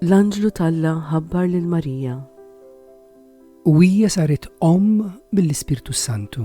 L-anġlu talla ħabbar lil Marija. U hija saret om mill-Ispirtu Santu.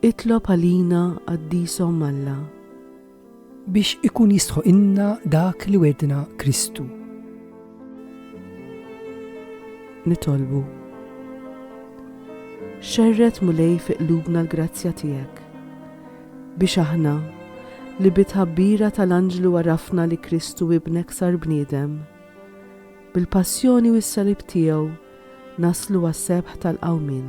Itlob għalina, Qaddis Omm Alla. Biex ikun jistħoqilna dak li wegħdna Kristu. Nitolbu. Xerred Mulej fi qlubna l-grazzja tiegħek biex aħna li bi tħabbira tal-anġlu għarafna li Kristu ibnek sar bniedem. Bil-passjoni u s-salib tiegħu naslu għas-sebħ tal-qawmin.